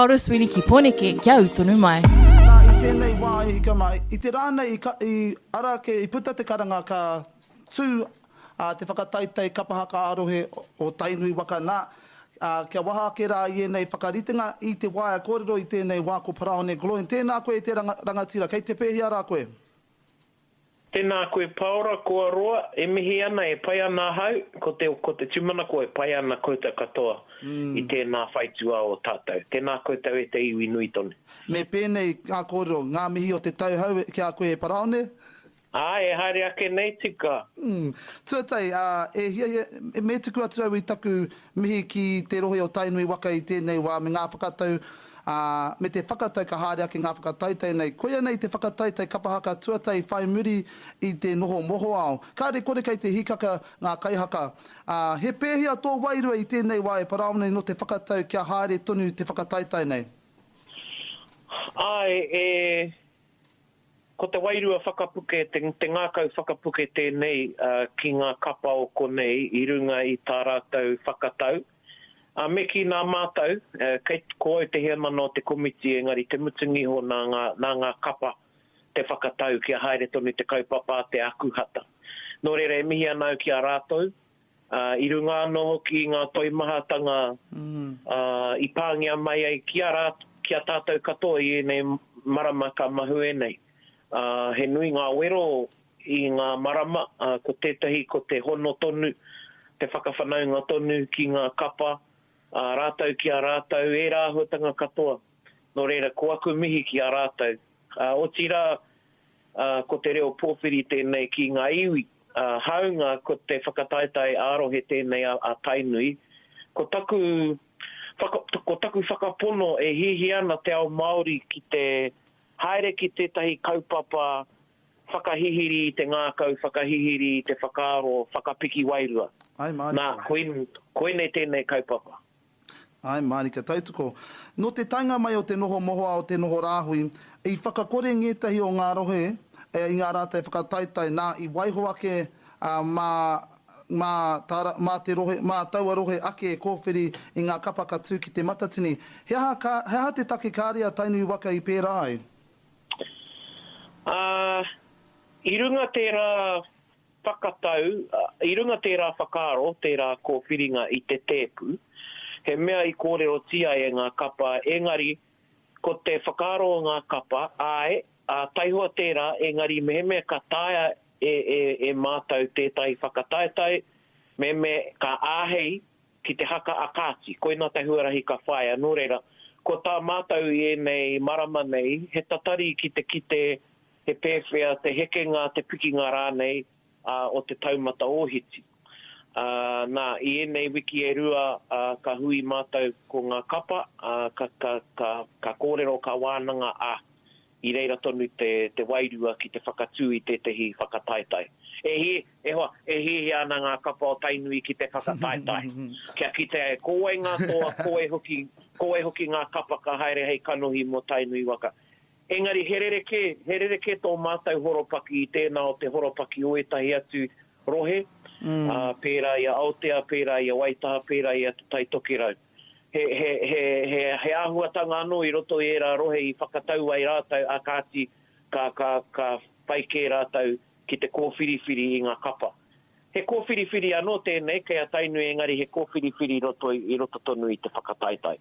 Paulus Wini ki Poeneke kia ū tonu mai. Nā, i tēnei wā i hika mai, i te rā nei i ka, i ara ake, i puta te karanga ka tū, ā, te whakataetae kapa haka ā-rohe o Tainui waka, nā, ā, kia waha ake rā i ēnei whakaritenga i te waea kōrero i tēnei wā ko Paraone Gloyne, tēnā koe e te ranga, rangatira, kei te pēhea rā koe? Tēnā koe Paora koa roa e mihi ana e pai ana ahau ko te ko te tumanako e pai ana koutou katoa i tēnā whaituā o tātou tēnā koutou e te iwi nui tonu. Me pēnei ngā kōrero, ngā mihi o te tau hau ki a koe e Paraone. Ā, e haere ake nei tika. Umm. Tuatahi, ā, e hiahia, me tuku atu au i taku mihi ki te rohe o Tainui waka i tēnei wā me ngā whakatau ā, me te whakatau ka haere ake ngā whakataetae nei. Koia nei te whakataetae kapa haka tuatahi whai muri i te noho mohoao. Kāre kore kei te hīkaka ngā kaihaka. Ā, he pēhea tō wairua i tēnei wā e parāone nō te whakatau kia haere tonu te whakataetae nei? Āe, e. Ko te wairua whakapuke, te ngākau whakapuke tēnei ki ngā kapa o konei i runga i tā rātou whakatau. A me kī nā mātou, kei, ko au te heamana o te komiti engari te mutunga iho nā ngā, nā ngā kapa te whakatau kia haere tonu te kaupapa a Te Ākuhata. Nō reira e mihi ana au ki a rātou, ā, i runga anō hoki i ngā toimahatanga, ā, i pāngia mai ai ki a rā, ki a tātou katoa i ēnei marama ka mahue nei. Ā, he nui ngā wero I ngā marama, ko tētahi ko te hono tonu, te whakawhanaunga tonu ki ngā kapa, ā rātou ki a rātou, ērā āhuatanga katoa. Nō reira, ko aku mihi ki a rātou. Ā, otirā, ā, ko te reo pōwhiri tēnei ki ngā iwi, ā, hāunga ko te whakataetae ā-rohe tēnei a, a Tainui, ko taku whaka, ko taku whakapono e hiahia ana te ao Māori ki te haere ki tētahi kaupapa Whakahihiri i te ngākau, whakahihiri i te whakaaro, whakapiki wairua. Ae mārika. Nā, koinei tēnei kaupapa. Ae mārika. Tautoko. Nō te taenga mai o te noho mohoao, te noho rāhui, i whakakore ngētahi o ngā rohe i ngā rātai whakataetae, nā, i waiho ake mā, mā, mā te rohe, mā taua rohe ake e kōwhiri i ngā kapa ka tū ki Te Matatini. He aha, he aha te take kāre a Tainui waka i pērā ai? Ā, i runga tērā whakatau, i runga tērā whakaaro, tērā kōwhiringa i te tēpu, he mea i kōrerotia e ngā kapa, engari, ko te whakaaro o ngā kapa, āe, ā, taihoa tērā, engari mehemea ka taea e, e, e mātou tētahi whakataetae, mehemea ka āhei ki te haka a Kāti, koinā te huarahi ka whāia, nō reira, ko tā mātou i ēnei marama nei, he tatari ki te kite he pēwhea te hekenga, te pikinga rānei o te taumata ōhiti. Ā, nā, i ēnei wiki e rua ka hui mātou ko ngā kapa, ka, ka, ka, ka kōrero, ka wānanga, ā, I reira tonu te, te wairua ki te whakatū i tētehi whakataetae. E hi, e hoa, e hiahia ana ngā kapa o Tainui ki te whakataetae. Kia kitea e kōwei ngā toa, kōwei hoki, kōwei hoki ngā kapa ka haere hei kanohi mō Tainui waka. Engari he rerekē, he rerekē tō mātou horopaki i tēnā o te horopaki o ētahi atu rohe, ā, pērā i a Aotea, pērā i a Waitaha, pērā i a Te Tai Tokerau. he āhuatanga anō i roto i ērā rohe i whakatau ai rātou, ā kāti, ka whai kē rātou ki te kōwhiriwhiri i ngā kapa. He kōwhiriwhiri anō tēnei kei a Tainui engari he kōwhiriwhiri i roto tonu i te whakataetae.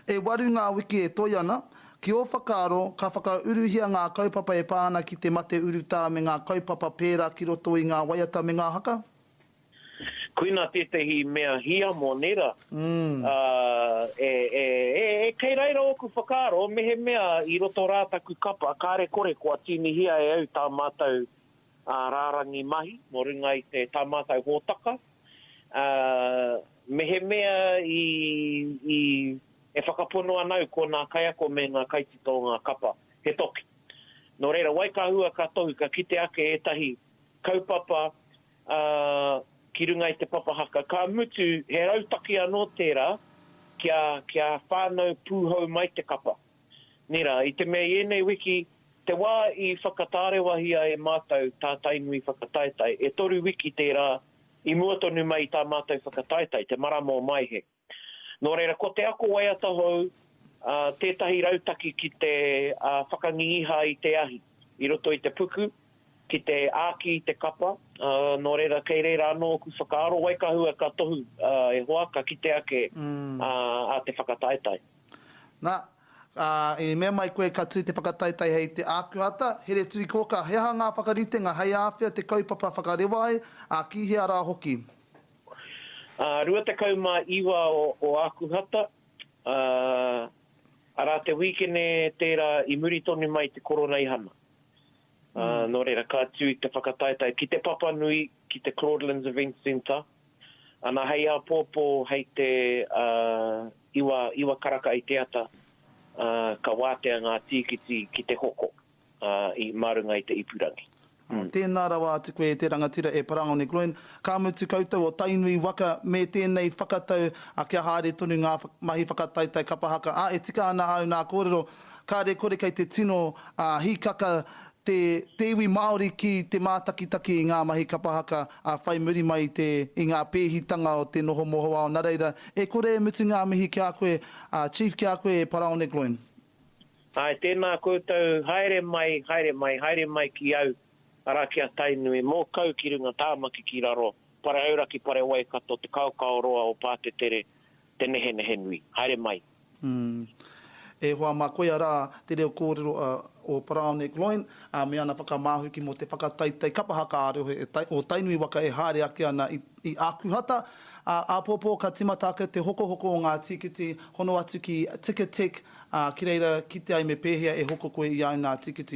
E waru ngā wiki e toe ana. Ki ō whakaaro, ka whakauruhia ngā kaupapa e pā ana ki te mate urutā me ngā kaupapa pērā ki roto i ngā waiata me ngā haka? Koina tētehi mea hiamo nera, ā, e, e, e, e kei reira ōku whakaaro, mehemea i roto rā taku kapa, kāre kore kua tīnihia e au tā mātou, ā, rārangi mahi nō runga i te, tā mātou hōtaka, ā, mehemea i, i, e whakapono ana au ko nā kaiako me ngā kaitito ngā kapa, he toki. Nō reira, wai ka hua ka tohu, ka kite ake ētahi kaupapa, ā, ki runga i te papa haka, ka mutu he rautaki anō tērā kia, kia whānau pūhou mai te kapa. Nē rā, i te mea i ēnei wiki, te wā i whakatārewahia e mātou tā Tainui whakataetae, e toru wiki tērā i mua tonu mai i tā mātou whakataetae, te marama o Maehe. Nō reira, ko te ako waiata hou tētahi rautaki ki te whakangingiha i te ahi i roto i te puku, ki te āki i te kapa, nō reira, kei reira anō ōku whakaaro, wai ka hua ka tohu e hoa, ka kite ake a te whakataetae. Na, i mea mai koe ka tū te whakataetae hei te ākuhata, here turi kōkā, he aha ngā whakaritenga hei āwhea te kaupapa whakarewa ai, ā, ki hea rā hoki? 29 o Ākuhata, arā te wīkene tērā i muri tonu mai i te Koroneihana. Nō reira, ka tū te whakataetae ki Te Papanui, ki te Claudelands Events Centre, ana hei āpōpō hei te iwa karaka i te ata, ka wātea ngā tīkiti ki te hoko. mā runga i te ipurangi. Tēnā rawa atu koe e te rangatira e Parangone Groen, ka mutu koutou o Tainui waka me tēnei whakatau kia haere tonu ngā mahi whakataetae kapa haka, ā, e tika ana āu nā kōrero, kāre kore kei te tino hīkaka te iwi Māori ki te mātakitaki i ngā mahi kapa haka whai muri mai i te, i ngā pēhitanga o te noho mohoao nā reira, e kore e mutu ngā mihi ki a koe Chief ki a koe e Parangone Groen. Āe, tēnā koutou, haere mai, haere mai, haere mai ki au, arā, ki a Tainui, mō kau ki runga Tāmaki ki raro, pare auraki, pare Waikato, te kaokao roa o Pātetere, te nehenehe nui. Haere mai. Umm. E hoa mā, koia rā te reo kōrero a o Parao Nick Loyne, ā, me ana whakamāhuki mō te whakataetae kapa haka ā-reo he o Tainui waka e haere ake ana i. I Ākuhata, ā, āpōpō ka tīmata ake te hokohoko o ngā tīkiti, hono atu ki Ticketek, ā, ki reira kite ai me pēhea e hoko koe i au nā tīkiti.